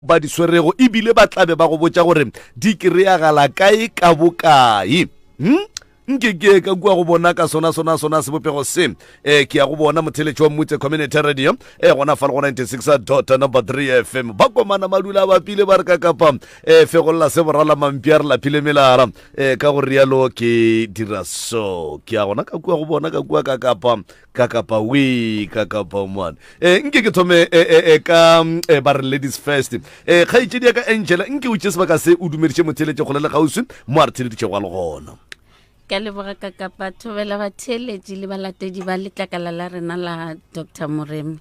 ba di swerego e bile ba tlabe ba go botša gore di kry-agala kae ka bokae hmm? nke ke ka kua go bona ka sona sona sona sebopego se um ke ya go bona motheletši wa mmutse community radio e gona fa le go 96 dot number 3 fm ba komana madula ba pile ba re ka kapa um fegolela se borala mampi a re laphile melara um ka go rialo ke dira so ke ya gona ka kua go bona ka kua ka kapa ka kapa we ka kapa mwana e eh, nke ke thome e eh, eh, ka e ba re ladies first e kgaitšedi ya ka angela nke o tše sebaka se o dumediše motheletše kgole le kgauswi mo a re theleditšego a le gona ka leboga ka kapa thobela batheeletši le balatedi ba letlakala la rena la dr moremi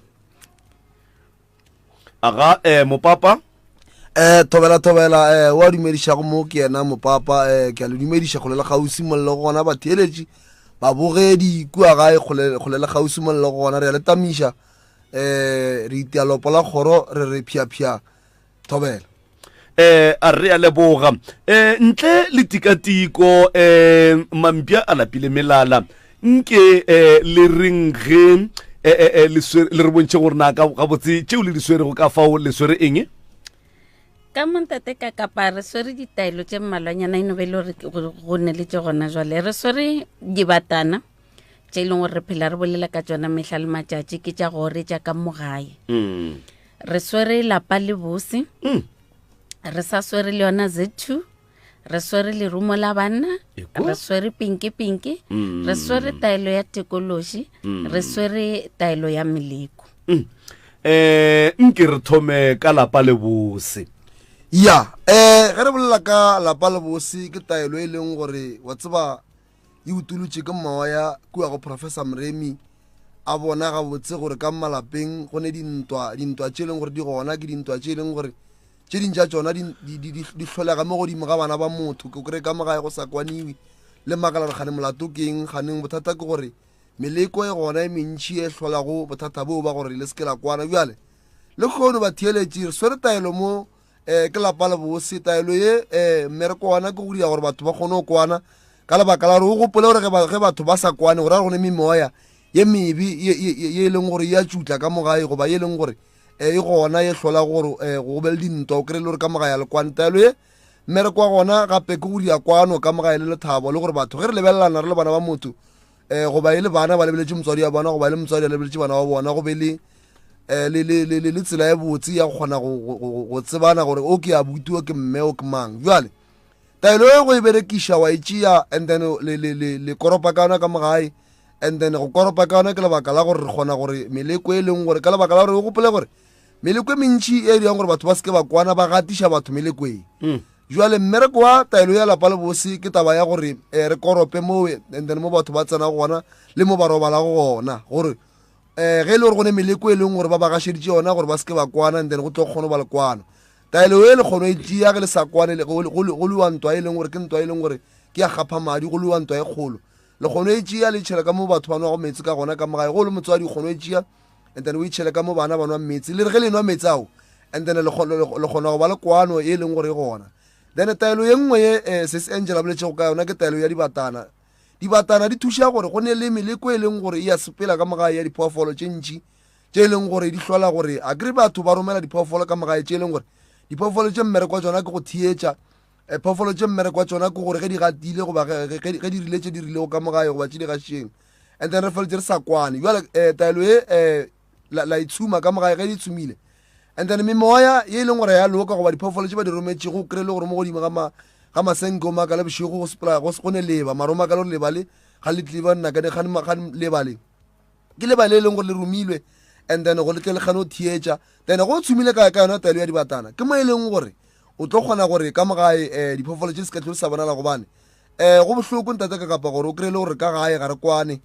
aga eh, mopapa eh thobela thobela eh wa dumedišago mo ke yena mopapa eh ke a le dumediša kgole le kgausi molelo go gona batheeletši babogedi kua gae kgole le kgausi molelo go gona re ya le tamiša eh re itealopo la kgoro re re phiaphia thobela eh a re a leboga eh ntle le tikatiko eh mampša a lapile melala nke eh le reng ge eh, eh, eh, le swere- le re bontšhe gore na ka gabotse tšeo le di swerego ka fao le swere eng ka montate ka kapa re swere ditaelo tše mmalwanyana e no be e le gore ke- go go ne le tše gona jwale re swere dibatana tše e leng gore re phela re bolela ka tsona mehla le matšatši ke tša gore tša ka mogae mm. re swere lapa le bose mm. re sa swere le yona z two re swere lerumo la banna re swere pinke pinke mm. re swere taelo ya tekološi mm. re swere taelo ya meleko mm. eh nke re thome ka lapa le bose ya eh ge re bolela ka lapa le bose ke taelo e leng gore wa tseba e utolotše ke mawa ya kua go professor mremi a bona gabotse gore ka malapeng go ne dintwa dintwa tše e leng gore di gona ke dintwa tše e leng gore tše dintša tsona di hlolega mo godimo ga bana ba motho ke kry-e ka mo gae go sa kwaniwe le makala gore gane molato ke eng ganeng bothata ke gore meleko e gona e mentšhi e hlolago bothata boo ba gore le seke la kwana bjale le kgono batheeletši re swere taelo mo um ke lapa le bose taelo ye um mmereko wana ke go dira gore batho ba kgone go kwana ka lebaka la gore o gopole gore ge batho ba sa kwane go ra gone memoya ye mebe ye e leng gore e a tšutla ka mogae goba ye e leng gore um e gona e hlola gore um go be le dintwa o kry-e le gore ka mogae ya lekwane taelo ye mmereko wa gona gape ke go dira kwano ka mogae le lethabo le gore batho ge re lebelelana re le bana ba motho eh goba e le bana ba lebeletše motswadi wa bona goba e le motswadi a lebeletše bana wa bona go be le eh, le, le, le, le, le tsela e botse ya go kgona go, go, go, go tsebana gore o ke abuti o ke mme o ke mang jale taelo e go e berekiša wa e tšea and then le, le, le, le koropa ka yona ka mogae and then go koropa ka yona ke lebaka la gore re kgona gore meleko e leng gore ka lebaka la gore o gopole gore meleko e mentši e dirang gore batho ba seke ba kwana ba gatiša batho melekoeng mm. Bjale mmereko wa taelo ya lapa le bose ke taba ya gore um re korope mowe and then mo batho ba tsena gona le mo ba robalago gona gore um ge e le gore go ne meleko e leng gore ba ba gašeditše yona gore ba se ke ba kwana and then go tlo kgone go ba le kwano taelo e le kgono e tšea ge le sa kwane go lewa ntwa e leng gore ke ntwa e leng gore ke ya gapha madi go lewa ntwa e kgolo le kgono e tšea le tšhela ka mo batho ba nwago metsi ka gona ka mogae go le motswadi kgono e tšea and then o itšhele ka mo bana ba nwa metsi le re ge le nwa metsi ao and then le kgona go ba le kwano e leng gore e gona then taelo ye nngwe ye eh, se se angela boletšego ka yona ke taelo ya dibatana dibatana di thuša gore go ne le meleko e leng gore e ya sepela ka mogae ya diphoofolo tše ntši tše e leng gore di hlola gore a kry batho ba romela diphoofolo ka mogae tše e leng gore diphoofolo tše mmereko wa tsona ke go theetša eh, phoofolo tše mmereko wa tsona ke gore ge di gatile goba ge di rile tše di rilego ka mogae goba tše di gašeng and then re feletse re sa kwane jale um eh, taelo e um la, la itshuma ka mogae ge di tshumile and then memoya ye e leng gore ya loka goba diphoofolo tse ba di rometše go kry-e le gore mo godimo ga masenke o maka le bošego go sepela go ne leba mara o maka le gore leba le ga le tlile ba nnakane ga leba le ke leba le e leng gore le romilwe and then go letle le kgane o theetša then go tshumile ka ka yona taelo ya dibatana ke mo e leng gore o tlo kgona gore ka mogae um eh, diphoofolo tse di se ka tlhole sa bonala gobane um go bohloko ntate ka kapa gore o kry-e le gore ka gae ga re kwane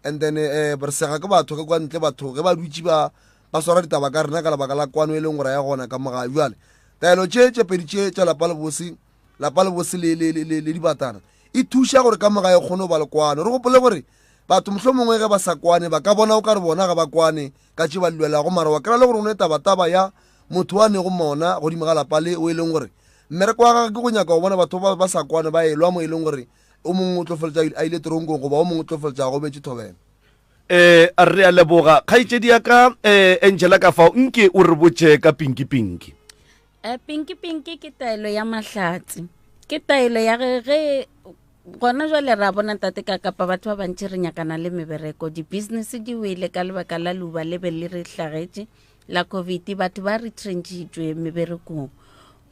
and then um re sega ke batho ge kwa ntle batho ge ba dutse ba ba swara ditaba ka rena ka lebaka la kwano e leng gore ya gona ka mogae jale taelo tše tše pedi tše tša lapa lebose lapa lebose le, le, le, le, le dibatana e thuša gore ka mogae kgone go ba le kwano re gopole gore batho mohlho mongwe ge ba sa kwane ba ka bona o ka re bona ga ba kwane ka tše ba lwelago mara wa kry-a le gore o ne tabataba ya motho wa nego mona godimo ga lapa le o e leng gore Mmereko wa gagwe ke go nyaka go bona batho ba ba sa kwane ba elwa mo e leng gore o mongwe o tlo feletša a ile teronkong goba o mongwe o tlo feletša a gobetše thobela. Um, re a leboga. Kgaetšedi ya ka, um, Angela ka fao, nke o re botše ka pinki-pinki. Eh, pinki-pinki ke taelo ya mahlatse ke taelo ya ge ge gona jwale ra bona tate ka kapa batho ba bantši re nyakana le mebereko di-business di wele ka lebaka la luba le be le re hlagetše la covid batho ba re trentšitšwe meberekong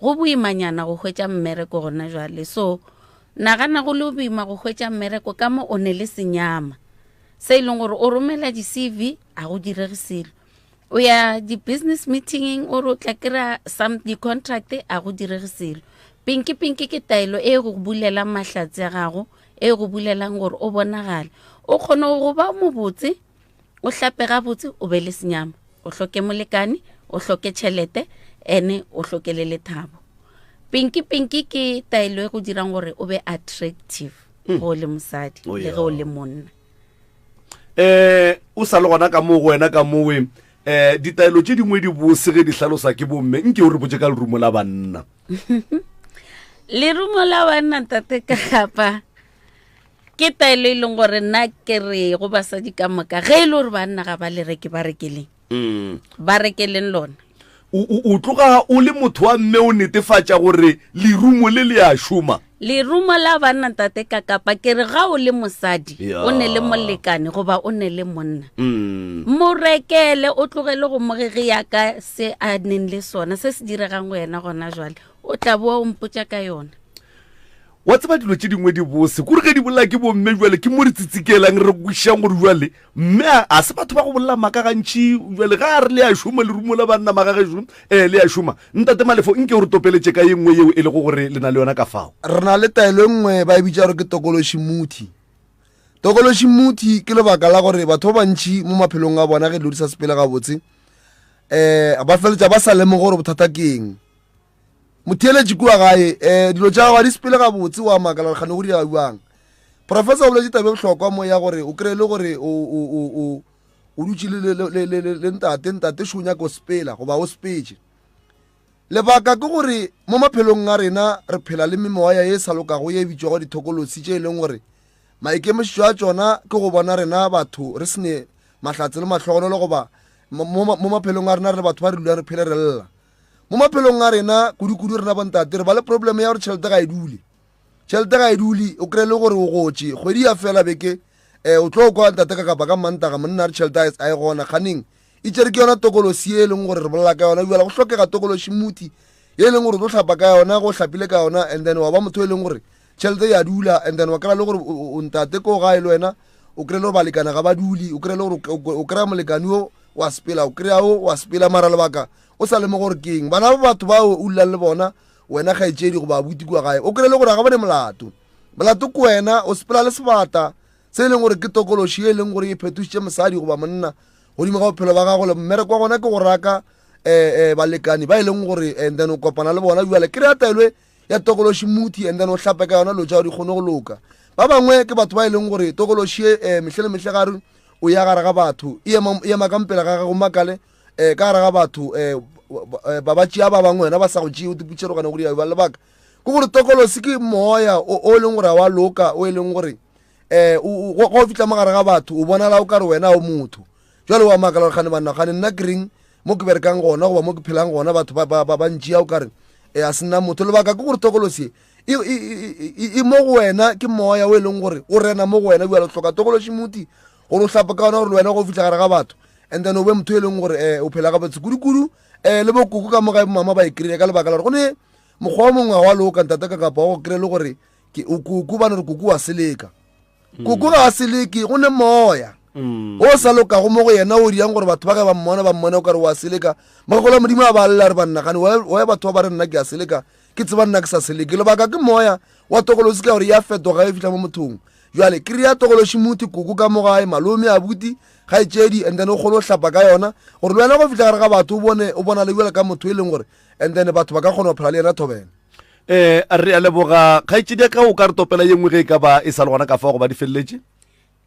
go boimanyana go hwetša mmereko gona jwale so nagana go le boima go hwetša mmereko ka mo o ne le senyama se e leng gore o romela di-cv a go direge selo o ya di-business meetingeng o re o tla kry-a some di-contract a go direge selo pinki pinki ke taelo e go bulelang mahlatse a gago e go bulelang gore o bonagale o kgone go ba mobotse o hlape gabotse o be le senyama o hloke molekane o hloke tšhelete ene o hloke le lethabo pinki pinki ke taelo e go dirang gore o be attractive hmm. go le mosadi oh, le ge o le monna eh o sa le gona ka mo go wena ka mowe eh ditaelo tše dingwe di bose ge di hlalosa ke bomme nke o re botse ka lerumo la banna lerumo la banna tate ka gapa ke taelo e leng gore nna ke re go basadi ka moka ge e le gore banna ga ba lereke ba rekeleng mm. ba rekeleng lona o tloga o le motho wa mme o netefatša gore lerumo le le a šoma lerumo la banna tate ka kapa ke re ga o le mosadi o ne le molekane goba o ne le monna mm. mo rekele o tlogele go mogege yaka se a neng le sona se se diregang go yena gona jwale o tla boa o mpotsa ka yona Wa tseba dilo tše dingwe di bose kore ge di bolela ke bomme bjale ke mo re tsitsikelang re kwešišang gore bjale mme a a se batho ba go bolela maaka gantši bjale ga a re le ya šoma lerumo la banna magagešo um eh, le ya šoma ntate malefo nke o re topeletše ka ye nngwe yeo e lego gore le na le yona ka fao. Re na le taelo e nngwe ba e bitša gore ke tokološi muthi. Tokološi muthi ke lebaka la gore batho ba bantši mo maphelong a bona ge dilo di sa sepele gabotse um ba feletša ba sa lemoge gore bothata ke eng. motheeletši kua gae um dilo tša gago ga di sepele gabotse wa makala gore kgane go dira bjang professor o boletše tabe bohlokwa mo ya gore o kry-e le gore o dutše le ntate ntate šo o nyaka o sepela goba o sepetse lebaka ke gore mo maphelong a rena re phela le memoya e sa lokago ye e bitšwago dithokolosi tše e leng gore maikemišetšo a tsona ke go bona rena batho re sene mahlatse le mahlogonolo goba mo maphelong a rena re le batho ba re dulang re phele re lla mo maphelong a rena kudu-kudu rena bontate re ba le probleme ya gore tšhelete ga e dule tšhelete ga e dule o kry-e le gore o gotše kgwedi ya fela beke um o tlo kwa ntate ka kapa ka mantaga monna re tšhelete a e gona kganeng e tšere ke yona tokolosi e e leng gore re bolela ka yona bjala go tlhokega tokolosi muthi e leng gore o tlo tlhapa ka yona go tlhapile ka yona and then wa ba motho e leng gore tšhelete ya dula and then wa kry-a le gore o ntate ko gae le wena o kry-e le gore balekana ga ba dule o kry-e le gore o kry-a molekane o wa sepela o kry-a o wa sepela mara lebaka o sa lemo gore keng bana ba batho bao o llang le bona wena ga etsedi go ba buti kwa gae o kry-e le gore ga ba ne molato molato ko wena o sepela le sebata se e leng gore ke tokološi e leng gore e phetošitše mosadi goba monna godimo ga bophelo ba gago le mmereko wa gona ke go raka um balekane ba e leng gore and then o kopana le bona jale kry-a taelwe ya tokološi muthi and then o hlape ka yona lo tšao di kgone go loka ba bangwe ke batho ba e leng gore tokološi e um mehle le mehle gare o ya gare ga batho e ema e ema ka mpela ga gago makale um ka gare ga batho um ba ba tšea ba bangwe wena ba sa go tšee o tiputšherogane go diabe ba lebaka ke gore tokolosi ke moya o e leng gore a wa loka o e leng gore um go fitlha mo gare ga batho o bonala o ka re wena o motho Jwale wa makala gore gane banna gane nna ke reng mo ke berekang gona goba mo ke phelang gona batho ba ba ba bantši ya o kare eh, a sena motho lebaka ke gore tokolosi e i i i mo go wena ke moya o e leng gore o rena mo go wena bjalo hloka tokološi muti gore o hlapa ka ona gore le wena go fitlha gare ga batho and then o be motho e leng gore um o phela ga botse kudu-kudu um le bokoko ka moga mama ba e kry-ile ka lebaka la gore go ne mokgwa o mongwe wa loka ntate ka kapa wa go kry-e le gore ke o koko bane re koko wa seleka mm. koko ga a seleke go ne moya mm. o sa lokago mo go yena o dirang gore batho ba ge ba mmona ba mmone o kare wa seleka magola modimo a ba lela re bannagane oya batho ba ba re nna ke a seleka ke tseba nna ke sa seleke lebaka ke moya wa tokolosi ka gore ya fetoga e fitlha mo mothong jale ke re ya tokolosi motho koko ka mogae malome a buti ga e tšedi and then o kgone go hlapa ka yona gore le wena go fitlha gare ga batho o bone o bona le jale ka motho e leng gore and then batho ba ka kgona go phela le yena thobela eh a re a leboga kgaetšedi ya ka o ka re topela ye nngwe ge e ka ba e sa le gona ka fa go ba di feleletše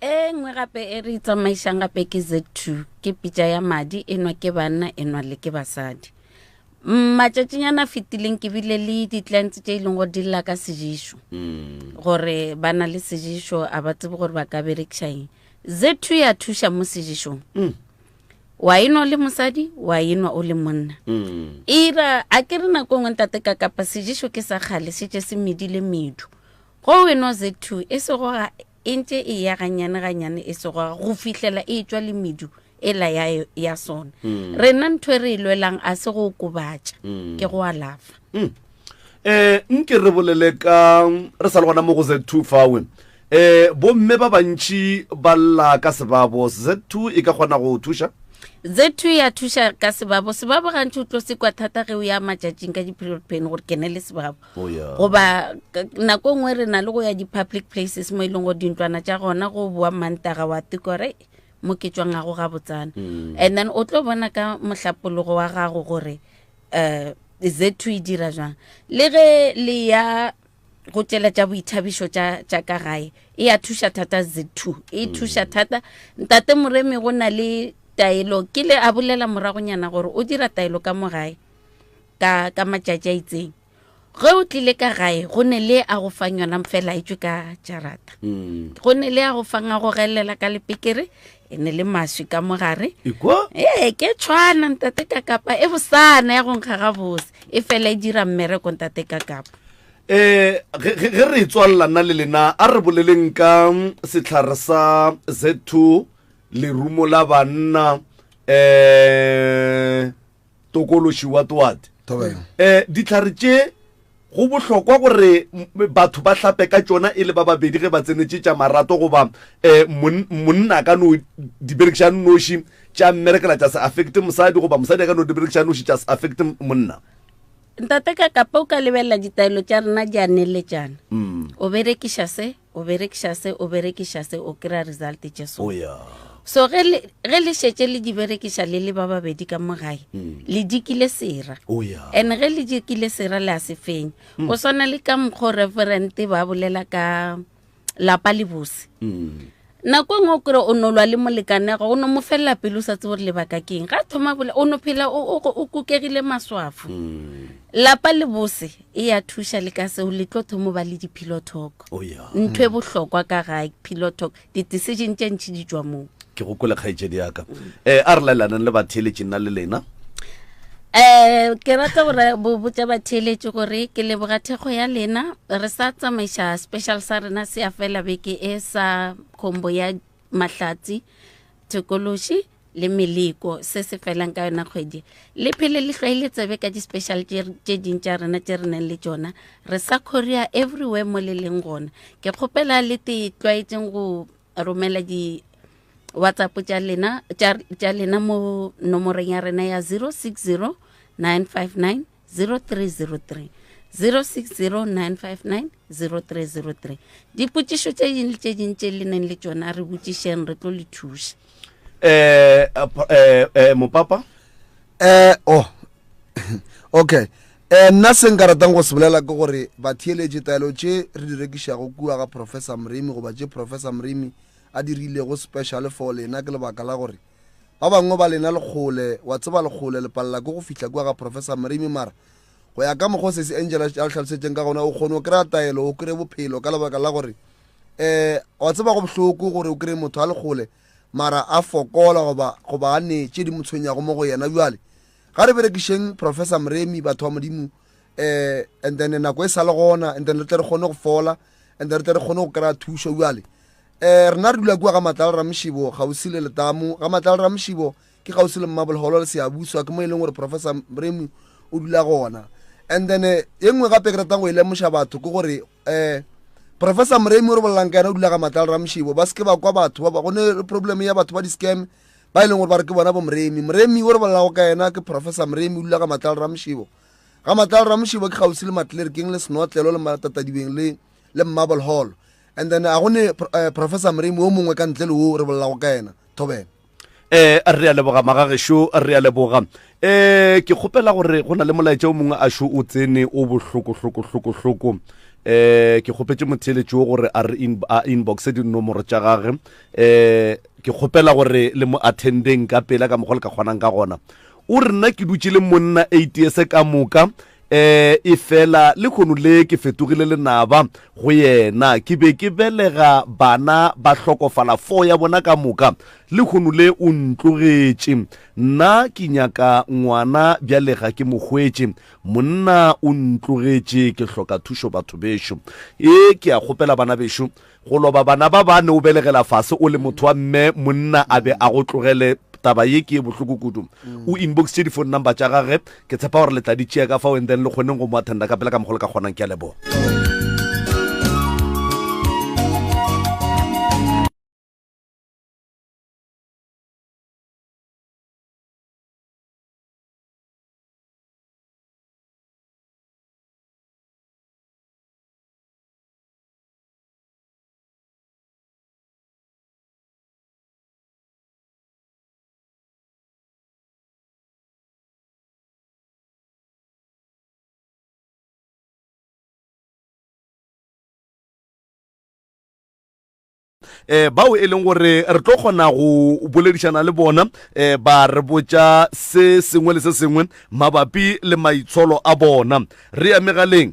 e nngwe gape e re tsamaišang gape ke z two ke pitša ya madi e nwa ke banna e nwa le ke basadi matšatšinyana fetileng ke bile le di-clients tše e leng gore di lla ka sejišo mm. gore ba na le sejišo a ba tsebe gore ba ka berekišaeng z two ya thuša mo sejišong mm. wa enwa o le mosadi wa enwa o le monna mm. ira a ke re nako ngwe ntate ka kapa sejeso ke sa kgale se tše se medile medu go weno z two e sego ga e ntše e ya ganyane ganyane e sego ga go fihlela e tswa le medu e la ya, ya sona mm. rena ntho e re e lwelang a se go okobatša mm. ke go alafa mm. eh nke re bolele ka re sa le gona mo go z two fawe E, bomme ba bantši ba lla ka sebabo. Z2 e ka kgona go o thuša. Z2 ya thuša ka sebabo. Sebabo gantši o tlo sekwa thata ge o ya matšatšing ka di-period pain gore ke ne le sebabo. Oh, yeah. goba k- nako e nngwe re na le go ya di-public places mo e leng gore dintlwana tša gona go boa mantaga wa tukore mo ke tswang gago ga botsana Mm. and then o tlo bona ka mohlapologo wa gago gore um z2 e dira jwang le ge le ya go tšela tša boithabišo tša tša ka gae e a thuša thata z2 e mm. thuša thata ntate moremi go na le taelo ke le a bolela moragonyana gore o dira taelo ka mo gae ka ka matšatši a itseng ge o tlile ka gae go ne le a go fang yona fela e tswe ka jarata mm. go ne le a go fang a go gelela ka lepekere e ne le maswi ka mogare ee ke tshwana ntate ka kapa e bosana ya go nkga gabose e fela e dira mmereko ntate ka kapa eh ge re tswalela nna le lena a re boleleng ka setlhare sa z2 lerumo la banna eh Tokološi wa twat. Thobela. E, dihlare tše go bohlokwa gore m- batho ba hlape ka tšona e le ba babedi ge ba tsenetše tša marato goba e, mon- monna a ka no di berekiša noši tša mmerekela tša se affecte mosadi goba mosadi a ka no di berekiša noši tša se affecte m- monna. Ntate ka kape o ka lebelela ditaelo tša rena di a neletšana. O berekiša se O berekiša se, o berekiša se, o kry-a result tše so. Oh, yeah. So ge le, ge le šetše le di berekiša le le ba babedi ka mo gae, le dikile sera. Oh, yeah. And ge le dikile sera le a se fenya. Go swana le ka mokgwa o Reverend ba bolela ka lapa le bose. Nako e nngwe o kry-a o no lwa le molekanego, o no mo felela pelo o sa tsebe gore lebaka ke eng. Ga a thoma bole, o no phela o, o, o kukegile maswafo. Lapa le bose, E ya thuša le ka seo le tlo thomo ba le di-pilotalk. Oh, yeah. Ntho e bohlokwa ka ga pilotalk, di-decision tše ntši di tšwa moo. Ke go kwele kgaetšedi ya ka. Um, a re laelanang le batheeletši nna le lena. Eh ke rata gore bo botša batheeletši gore ke leboga thekgo ya lena re sa tsamaiša special sa rena se ya fela beke e sa khombo ya mahlatsi thekološi le meleko se se felang ka yona kgwedi le phele le hlwaile tsebe ka di-special tše ding tša rena tše re neng le tšona re sa korea everywhere mo le leng gona ke kgopela le te tlwaetseng go romela di whatsapp tša lena tša lena mo nomoreng ya rena ya 060 959 0303 060959 0303 dipotšišo tše ding le tše ding tše le neng le tšona re botšišeng re tlo le thuša eh, eh, eh, eh mopapa eh oh okay eh nna se nka ratang go se bolela ke gore batheeletše taelo tše re di rekišago kua ga professor mrimi goba tše professor mrimi a dirilego special for lena ke lebaka la gore Ba bangwe ba lena le kgole, wa tseba le kgole, le palela ke go fihla kua ga Professor Mrimi, mara go ya ka mokgwa o Sesi Angela a le hlalosetšeng ka gona, o kgone o kry-a taelo, o kry-e bophelo, ka lebaka la gore um wa tseba go bohloko gore o kry-e motho a le kgole mara a fokola goba goba a ne tše di mo tshwenyago mo go yena. Bjale ga re berekišeng Professor Mremi, batho ba Modimo, eh and then nako e sale gona and then re tle re kgone go fola and then re tle re kgone go kry-a thušo jale eh rena re dula kua ga matlala le ramošibo gausi le letamo ga matlala le ramošibo ke gausi le mmabolgolo le seabuswa ke mo e leng gore professor mremu o dula gona and then eh, e nngwe gape ke ratang go e lemoša batho ke gore um professor moremi o re bolelang ka yena o dula ga matlala ramošibo ba seke ba kwa batho ba ba- go ne le problem ya batho ba di-scam ba e leng gore ba re ke bona bo moremi moremi o re bolelago ka yena ke professor moremi o dula ga matlala ramošibo Ga matlalo ramošibo ke kgauswi le matlerekeng le senotlelo le matatadibeng le le marble hall and then a go ne eh, professor mremi o mongwe ka ntle le o re bolelago ka yena thobela eh re a leboga magagešo re a leboga eh ke kgopela gore go na le molaetša o mongwe a šo o tsene o bohloko hloko hloko hloko eh ke kgopetse motheeletši o gore a re in, a inboxe dinomoro tša gage eh ke kgopela gore le mo attendeng ka pela ka mokgwa le ka kgonang ka gona O re, Nna ke dutše le monna atheist ka moka, um efela lehono le ke fetogile lenaba go yena. Ke be ke belega bana ba hlokofala, four ya bona ka moka. Lehono le o ntlogetše. Nna ke nyaka ngwana bjale ga ke mo hwetše. Monna o ntlogetše, ke hloka thušo batho bešo. Ee, ke a kgopela bana bešo. Go loba bana ba bane o belegela fase o le motho wa mme monna a be a go tlogele taba ye ke e bohloko kudu. O inbox tše di phone number tša gage ke tshepa gore le tla di tšea ka fao and then le kgoneng go mo attenda ka pela ka mokgo le ka kgonang ke a leboga. eh bao e leng gore re tlo kgona go boledišana le bona eh ba re botša se sengwe le se sengwe mabapi le maitsholo a bona re ya megaleng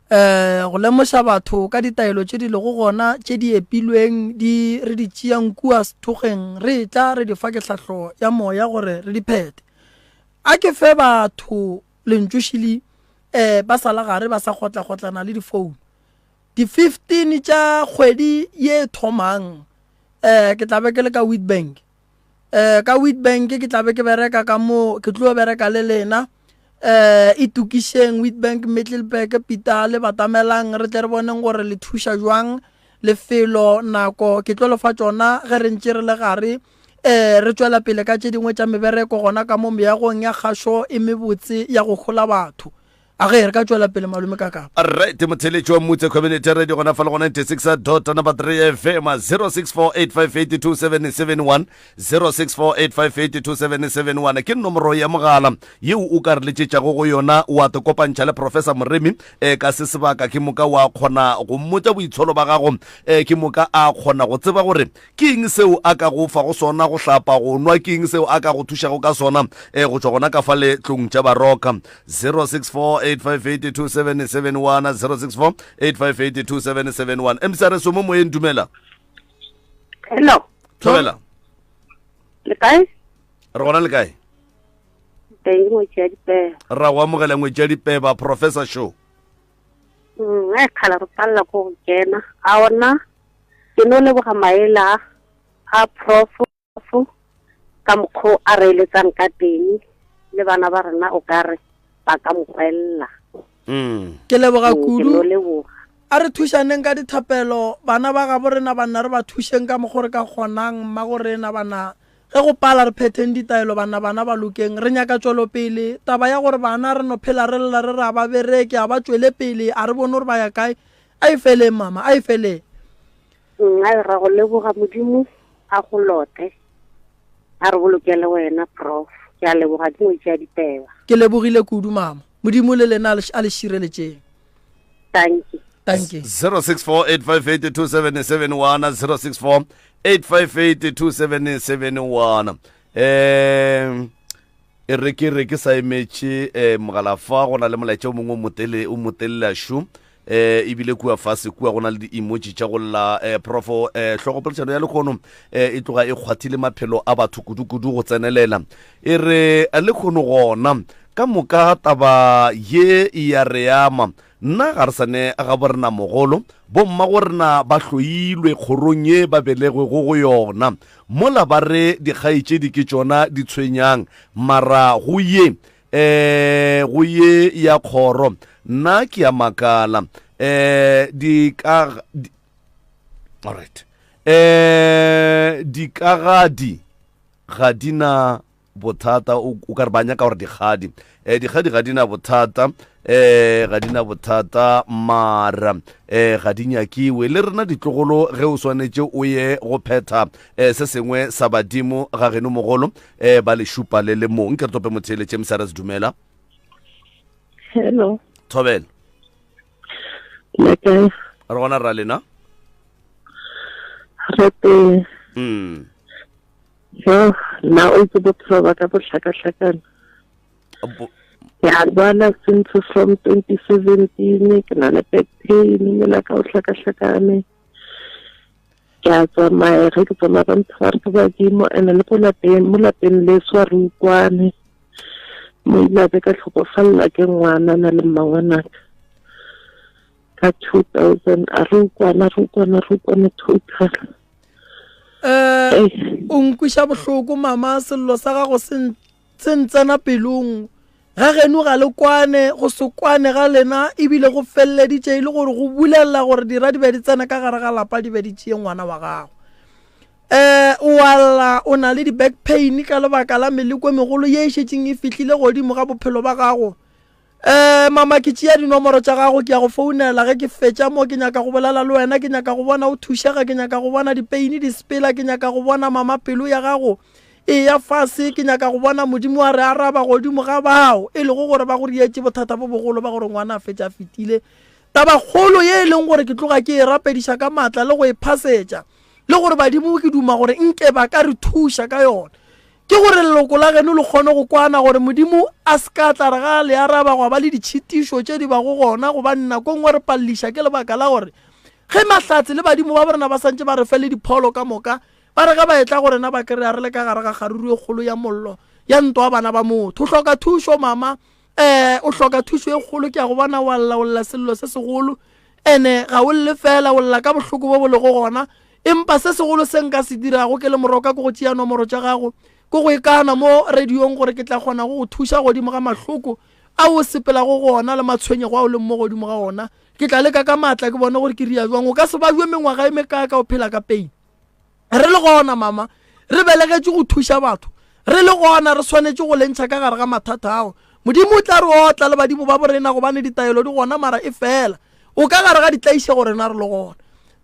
um go lemoša batho ka ditaelo tše di lego gona tše di epilweng di re di tšeang kua sethokgeng re etla re di fa kehlahlo ya moya gore re di phethe a ke fe batho lentšošili um ba sa la gare ba sa kgotlagotlana le difounu di-fifteen tša kgwedi ye thomang um ke tla be ke le ka witbank um ka witbank ke tla be ke bereka ka moo ke tlo bereka le lena um e tokišeng witbank middleburg pita le batamelang re tle re boneng gore le thuša jwang lefelo nako ke tlo lefa tsona ge re ntše re le gare um re tswela pele ka tše dingwe tša mebereko gona ka mo meagong ya kgašo e mebotse ya go hola batho a ge re ka tšwela pele malome ka kapa alright motheletši wa mmutse community radio gona fa le go 96 dot number 3 fm 0648582771 0648582771 ke nomoro ya mogala yeo o ka re letšetšago go yona wa te kopantšha le professor moremi eh, ka se sebaka ke moka wa kgona go mmotša boitsholo ba gago eh, ke moka a kgona go tseba gore Ke eng seo a ka go fago sona, go hlapa, go nwa? Ke eng seo a ka go thušago ka sona e, go tšwa gona ka fa letlong tša baroka? 0648582771, 0648582771. MCRS o mo moyeng, dumela. Hello. Thobela. Le kae? Re gona le kae? Teng ngwetsi ya dipeba. Ra go amogela ngwetsi ya dipeba, Professor Show. Mm, e khala re palela ko go kena. A ona Ke no leboga maele a, a Prof, ka mokgo a reeletsang ka teng, le bana ba rena o ka re ba ka mo kwelela. Ke leboga Ke kudu. no leboga. A re thušaneng ka dithapelo, bana ba gabo rena banna re ba thušeng ka mokgo re ka kgonang, mmagorena, bana. Ge go pala re phetheng ditaelo, banna, bana ba lokeng. Re nyaka tšwelopele. Taba ya gore bana re no phela re lla re re a ba bereke, a ba tšwele pele, a re bone gore ba ya kae, A e fele, mama, a e fele. Nxa re go leboga Modimo a go lote, a re boloke le wena, Prof. Ke a leboga dingwe tša diteba. Ke lebogile kudu, mama. Modimo le lena a le šireletšeng. Tanki. Tanki. 0648582771 0648582771 um E re ke re ke sa emetše mogala fa go na le molaetša o mongwe o motele o motelela šo um ebile kua fase kua go na le di-emoji tša go lla um profo um tlhogopoledišano ya lekgono um e tloga e kgwathile maphelo a batho kudu-kudu go tsenelela e re lekgono gona ka moka taba ye e ya re ama Nna ga re sa ne ga borenamogolo, bommagorena ba hloilwe kgorong ye ba belegwego go yona. Mola ba re dikgaetšedi ke tšona di tshwenyang, mara go ye, ee, go ye ya kgoro, nna ke a makala, ee, di ka, di, all right, ee, dikagadi ga di na. Bothata, o ka re ba nyaka gore dikgadi. Eh, dikgadi ga di na bothata, eh, ga di na bothata, mara eh, ga di nyakiwe. Le rena ditlogolo ge o swanetše o ye go phetha eh, se sengwe sa badimo ga geno mogolo eh, ba le šupa le le mong. Ke re tope motheeletše msrs dumela. Hello. Thobela. Le kae? Re gona ra lena. Re teng. Mm. Yoh, nna o itse bophelo ba ka bo hlakahlakana. Bo Ke a lwala since from twenty seventeen, ke na le back pain, mmele wa ka o hlakahlakane. Ke a tsamaya, ge ke tsamaya ba mpha ba re ke badimo and le ko lapeng, mo lapeng leso ga re utlwane. Mo ile a be ka tlhokofalela ke ngwana na le mmangwanaka ka two thousand, a re utlwane, a re utlwane, a re utlwane total. um o nkwiša bohloko mama sello sa gago se ntsena pelong ga geno ga le kwane go se kwane ga lena ebile go feleleditše e le gore go bulelela gore dira di be di tsena ka gare ga lapa di be di tšeye ngwana wa gago um o alla o na le di-back pain ka lebaka la meleko e megolo ye e šetseng e fihlile godimo ga bophelo ba gago Eh mama ke tšea dinomoro tša gago ke ya go founela ge ke fetša mo ke nyaka go bolela le wena ke nyaka go bona o thušega ke nyaka go bona dipeini di sepela ke nyaka go bona mama pelo ya gago e ya fase ke nyaka go bona modimo wa re araba godimo ga bao e lego gore ba go rietše bothata bo bogolo ba gore ngwana a fetša a fetile taba kgolo ye e leng gore ke tloga ke e rapediša ka maatla le go e phasetša le gore badimo ke duma gore nke ba ka re thuša ka yone Ke gore leloko la geno le kgone go kwana gore Modimo a se ka tla re ga a le araba gwa ba le ditšhitišo tše di bago gona gobane nako nngwe re palliša ke lebaka la gore ge mahlatse le badimo ba borena ba santše ba re fe le dipholo ka moka ba re ge ba etla go rena ba kry-a re le ka gare ga kgaruru e kgolo ya mollo ya ntwa bana ba motho o hloka thušo mama um o hloka thušo e kgolo ke a go bona wa lla o lla sello se segolo ene ga o lle fela o lla ka bohloko bo bo lego gona empa se segolo se nka se dirago ke le moroka ke go tšea nomoro tša gago ko go e kana mo radiong gore ke tla kgona go go thuša godimo ga mahloko a o sepelago go ona le matshwenyego a o leng mo godimo ga ona ke tla leka ka maatla ke bone gore ke ria jwang o ka se bajwe mengwaga e mekaaka o phela ka pain re le gona mama re belegetše go thuša batho re le gona re swanetše go lentšha ka gare ga mathata ao modimo o tla re otla le badimo ba borena gobane ditaelo di gona mara e fela o ka gare ga ditlaišego rena re le gona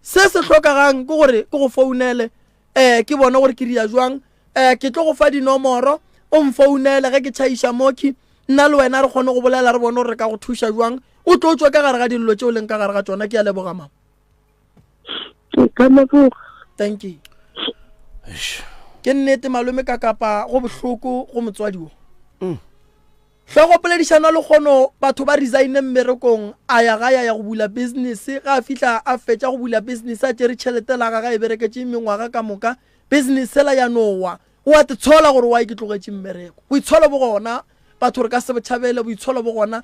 se se hlokagang ke gore ke go founele um ke bone gore ke ria jwang um ke tlo go fa dinomoro o mfounele ge ke tšhaiša moki nna le wena re kgone go bolela re bone gore re ka go thuša jwang o tlo tswa ka gare ga dillo tšeo leng ka gare ga tsona ke a leboga mama ke ka leboga thank you ke nnete malome ka kapa go bohloko go motswadi wo mm. hle go poledišana le kgono batho ba resigne mmerekong a ya ga ya ya go bula business ga a fihla a fetša go bula business a tšere tšhelete la gaga e bereketse mengwaga ka moka business sela ya nowa o a te tshola gore wa e ke tlogetše mmereko boitsholo bo gona batho re ka se botšhabele boitsholo bo gona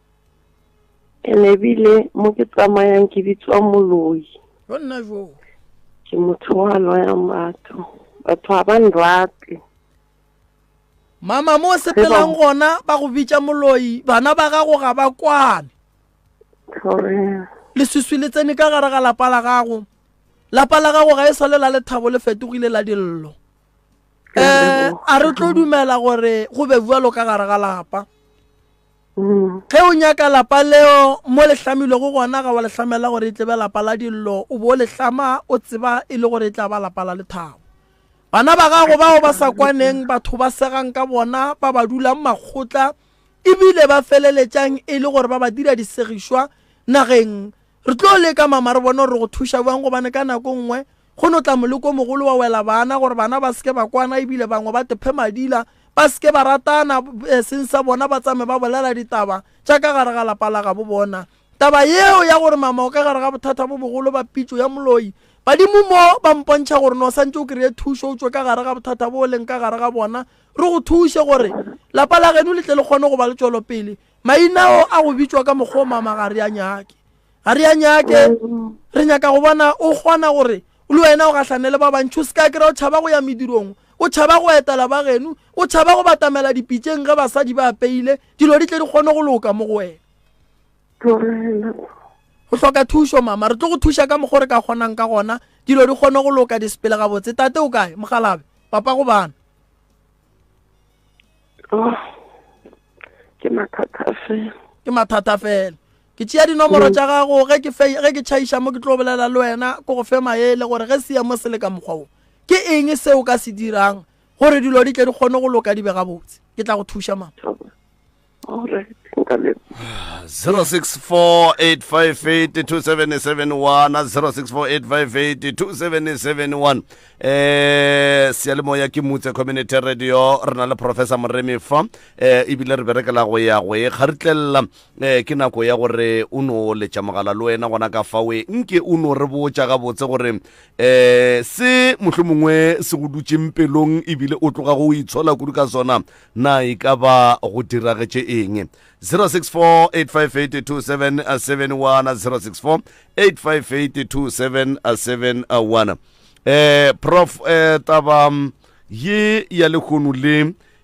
And ebile mo ke tsamayang ke bitswa moloi. Go nna jo. Ke motho wa loya batho. Batho ga ba nrate. Mama mo sepelang gona ba go bitša moloi bana ba gago ga ba kwane. Leswiswi le tsene ka gare ga lapa la gago. Lapa la gago ga e sale la lethabo le fetogile la dillo. Eh a re tlo dumela gore go be bjalo ka gare ga lapa. Ge o nyaka lapa leo mo le hlamilwego gona, ga wa le hlamela gore e tle be lapa la dillo, o bo o le hlama o tseba e le gore e tla ba lapa la lethabo. Bana ba gago bao ba sa kwaneng, batho ba segang ka bona, ba ba dulang makgotla e bile ba feleletšang e le gore ba ba dira disegišwa nageng, re tlo leka mama re bone gore re go thuša bjang gobane ka nako nngwe Go no tla moleko o mogolo wa wela bana gore bana ba se ke ba kwana e bile bangwe ba tephe madila, ba se ke ba ratana, e seng sa bona ba tsame ba bolela ditaba tša ka gare ga lapa la gabo bona. Taba yeo ya gore mama o ka gare ga bothata bo bogolo ba pitšo ya moloi, badimo mo ba mpontšha gore no santše o kreye thušo o tšwe ka gare ga bothata bo o leng ka gare ga bona, re go thuše gore lapa la geno le tle le kgone go ba le tšwelopele. Mainao a go bitšwa ka mokgwa o mama ga re a nyake. ga re a nyake re nyaka go bona o kgona gore le wena o gahlane le ba bantšhi o se ka kry-a o tšhaba go ya medirong o tšhaba go etela ba geno o tšhaba go batamela dipitšeng ge basadi ba apeile dilo di tle di kgone go loka mo go wena o hloka thušo mama re tlo go thuša ka mokgwa re ka kgonang ka gona dilo di kgone go loka di sepele gabotse tate o kae mogalabe papa go bana oh, ke mathata fela ke mathata fela Ke tšea dinomoro tša gago ge ke fe ge ke tšhaiša mo ke tlo bolela le wena ko go fe maele gore ge se ya mo se le ka mokgwa wo ke eng se o ka se dirang gore dilo di tle di kgone go loka di be gabotse ke tla go thuša ma All right. Nka lebo. 0648582771 eh seyalemoya ke mutse community radio re na le professor moremi fa eh ebile re berekela go ya go e ga re tlelela Ee, ke nako ya gore o no letša mogala le wena gona ka fawe nke o no re botša gabotse gore um se mohlwe mongwe se go dutseng pelong ebile o tloga go itshola kudu ka sona na e ka ba go diragetše eng 0648582771 0648582771 um prof um taba ye ya lekgono le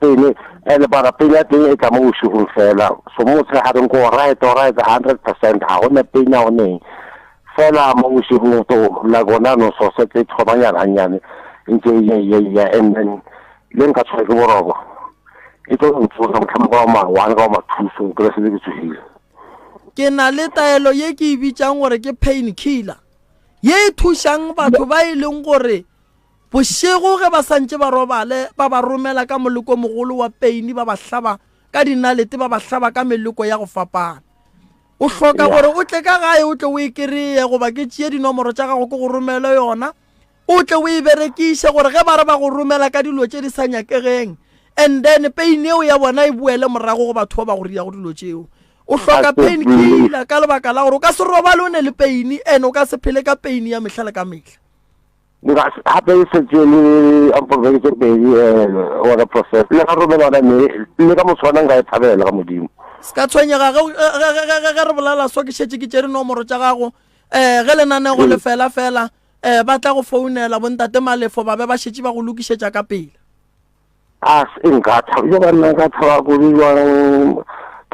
Pele, and bara pele ya teng e tla mo bošegong fela, so mo motshegareng ko right right hundred percent ga go ne penya go neng fela mo bošegong to la gona no so se tse thomanyana gannyane ntse ye ye ye and then le nka tshwere ke boroko e tlo go tsosa motlhama ka ma one ka ma two so kry se le ke tsogile ke na le taelo ye ke e bitsang gore ke pain killer ye e thušang batho ba e leng gore Bošego ge ba sa ntše ba robale, ba ba romela ka moleko o mogolo wa peini, ba ba hlaba ka dinalete, ba ba hlaba ka meleko ya go fapana. O hloka gore o tle ka gae o tle o e kereye goba ke tšee dinomoro tša gago ke go romele yona o tle o e berekiše gore ge ba re ba go romela ka dilo tše di sa nyakegeng and then pain eo ya bona e boele morago go batho ba ba go riyago dilo tšeo o hloka pain killer ka lebaka la gore o ka se robale o ne le pain and o ka se phele ka pain ya mehla le ka mehla Ga se gape e setse le ampolbeke tše pedi gore eh, profeta le ga rome lona me le ka motshwana nka e thabela ga modimo se ka tshwenyega ge re bolala so ke šetse ke tšere nomoro tša gago um ge lenanego mm. le fela fela um ba tla go founela bontate malefo ba be ba šetse ba go lokišetša ka pele A se ke nka thaba, yo banna nka thaba kudu bjang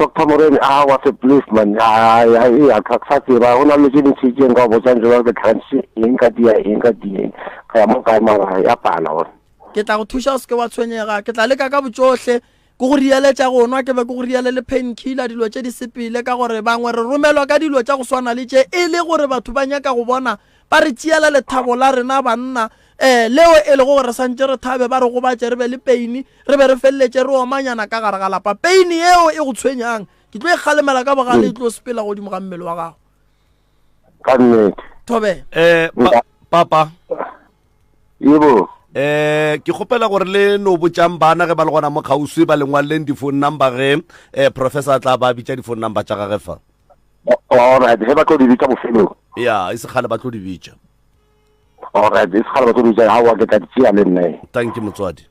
Doctor Morena, a was a place man, a ya ya ka sa tseba go na le tše ntši tše nka botsang tšona ke thantshe eng ka dia eng ka di eng ka ya mo kae mara ya pala gore ke tla go thuša o se ke wa tshwenyega ke tla leka ka botšohle ke go rialetša go nwa ke be ke go riale le pain killer dilo tše di sepele ka gore bangwe re romelwa ka dilo tša go swana le tše e le gore batho ba nyaka go bona Ba re tšeela lethabo la rena banna, ee, leo e lego gore re santše re thabe, ba re gobatše re be le peine, re be re feleletše re omanyana ka gare ga lapa. Peine yeo e go tshwenyang, ke tlo e kgalemela ka bogale, e tlo sepela godimo ga mmele wa gago. Ka nnete. Thobela. Eh, pa, papa. Yebo. Eh, ke kgopela gore le no botšang bana ge ba le gona mo kgauswi ba lengwaleleng di-phone number ge eh, professor a tla ba bitša di-phone number tša gage fa Alright, ge ba tlo di bitša bofelong. Yeah, e se kgale ba tlo di bitša. Alright, e se kgale ba tlo di bitša. Ha wa ke tla di tšea le nna. Thank you motswadi.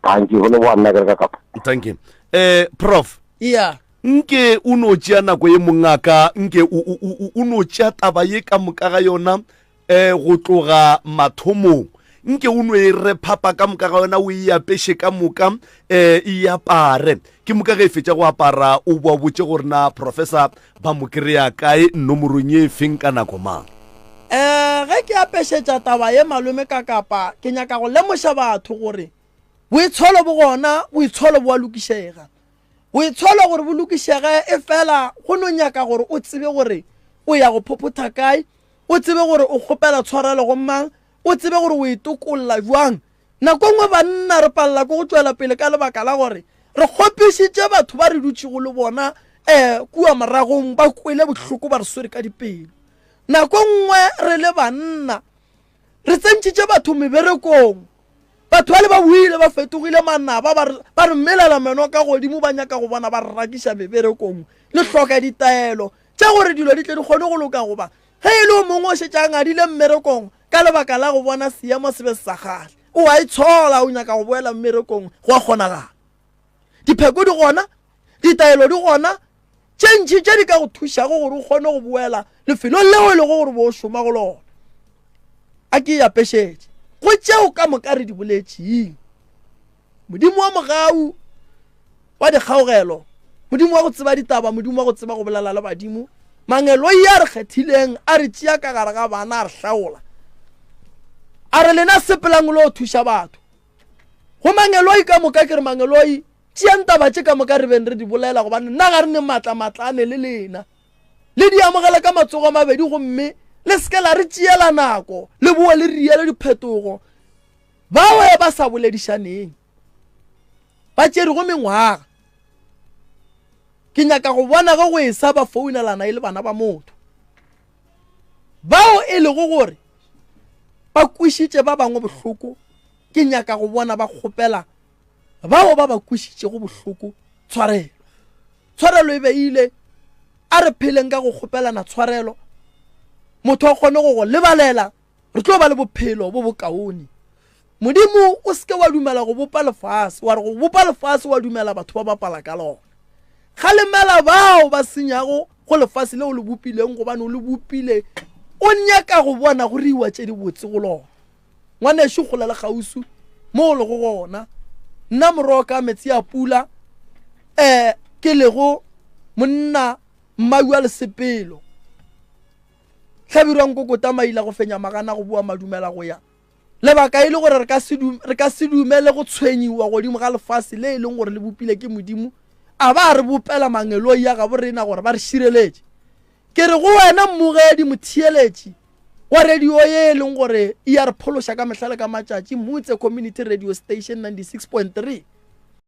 Thank you. Go le boa nna ke re ka kapa. Thank you. Eh, prof. Yeah. nke o no tšea nako ye mongaka nke o no tšea taba ye ka moka ga yona E, go tloga mathomong. Nke o no e re phapa ka moka ga yona, o e apeše ka moka, e, e apare. Ke moka ge e fetša go apara, o boa botše gore na professor ba mo kry-a kae, nomorong e feng, ka nako mang. E, ge ke apešetša taba ye malome ka kapa, ke nyaka go lemoša batho gore boitsholo bo gona, boitsholo bo a lokišega. Boitsholo gore bo lokišege, e fela go no nyaka gore o tsebe gore o ya go phophotha kae, o tsebe gore o kgopela tshwarelo go mang, o tsebe gore o e tokolla bjang. Nako nngwe banna re palela ke go tšwela pele ka lebaka la gore re kgopišitše batho ba re dutšego le bona um kua moragong ba kwele bohloko ba re swere ka dipelo. Nako nngwe re le banna re tsentšitše batho meberekong, batho bale ba boile ba fetogile manaba, ba re melela meno ka godimo, ba nyaka go bona ba re rakiša meberekong. Le hloka ditaelo, tša gore dilo di tle di kgone go loka goba ge e le o mongwe o šetše a ngadile mmerekong ka lebaka la go bona seemo se be se sa kgale o a e tshola o nyaka go boela mmerekong go a kgonagala dipheko di gona ditaelo di gona tše ntšhi tše di ka go thušago gore o kgone go boela lefelong leo e lego gore bo o šoma go lona a ke e apešetše go tšeo ka moka re di boletšeng Modimo wa mogau wa dikgaogelo, Modimo wa go tseba ditaba, Modimo wa go tseba go bolela le badimo, mangeloi a re kgethileng a re tšea ka gare ga bana a re hlaola a re lena sepelang lo thuša batho go mangeloi ka moka ke re mangeloi tšeang taba tše ka moka re beng re di bolela gobane nna ga re ne maatla maatlane le lena le di amogela ka matsogo a mabedi gomme le seke la re tšeela nako le boe le riele diphetogo Bao ba sa boledišaneng ba tšerego mengwaga. Ke nyaka go bona ge go esa ba founelana e le bana ba motho. Bao e lego gore ba kwišitše ba bangwe bohloko, ke nyaka go bona ba kgopela bao ba ba kwišitšego bohloko tshwarelo. Tshwarelo e beile, a re pheleng ka go kgopelana tshwarelo, motho a kgone go go lebalela re tlo ba le bophelo bo bokaone modimo o seke wa dumela go bopa lefase wa re go bopa lefase wa dumela batho ba bapala ka lona kgalemela bao ba senyago go lefase le o le bopileng gobane o le bopile o nyaka go bona go reiwa tse di botse go lona ngwaneso gola le gausu mo o lego gona nna morogo ka metsi a pula um ke lego monna mmau a lesepelo hlabirwa nkokota maila go fenya magana go boa madumela go ya lebaka e le gore re ka se dumele go tshwenyiwa godimo ga lefase le e leng gore le bopile ke modimo a ba re bopela mangeloi ya gabo rena gore ba re šireletše ke re go wena mmogedi motheeletši wa radio ye e leng gore e ya re phološa ka mehlale ka matšatši mutse community radio station 96.3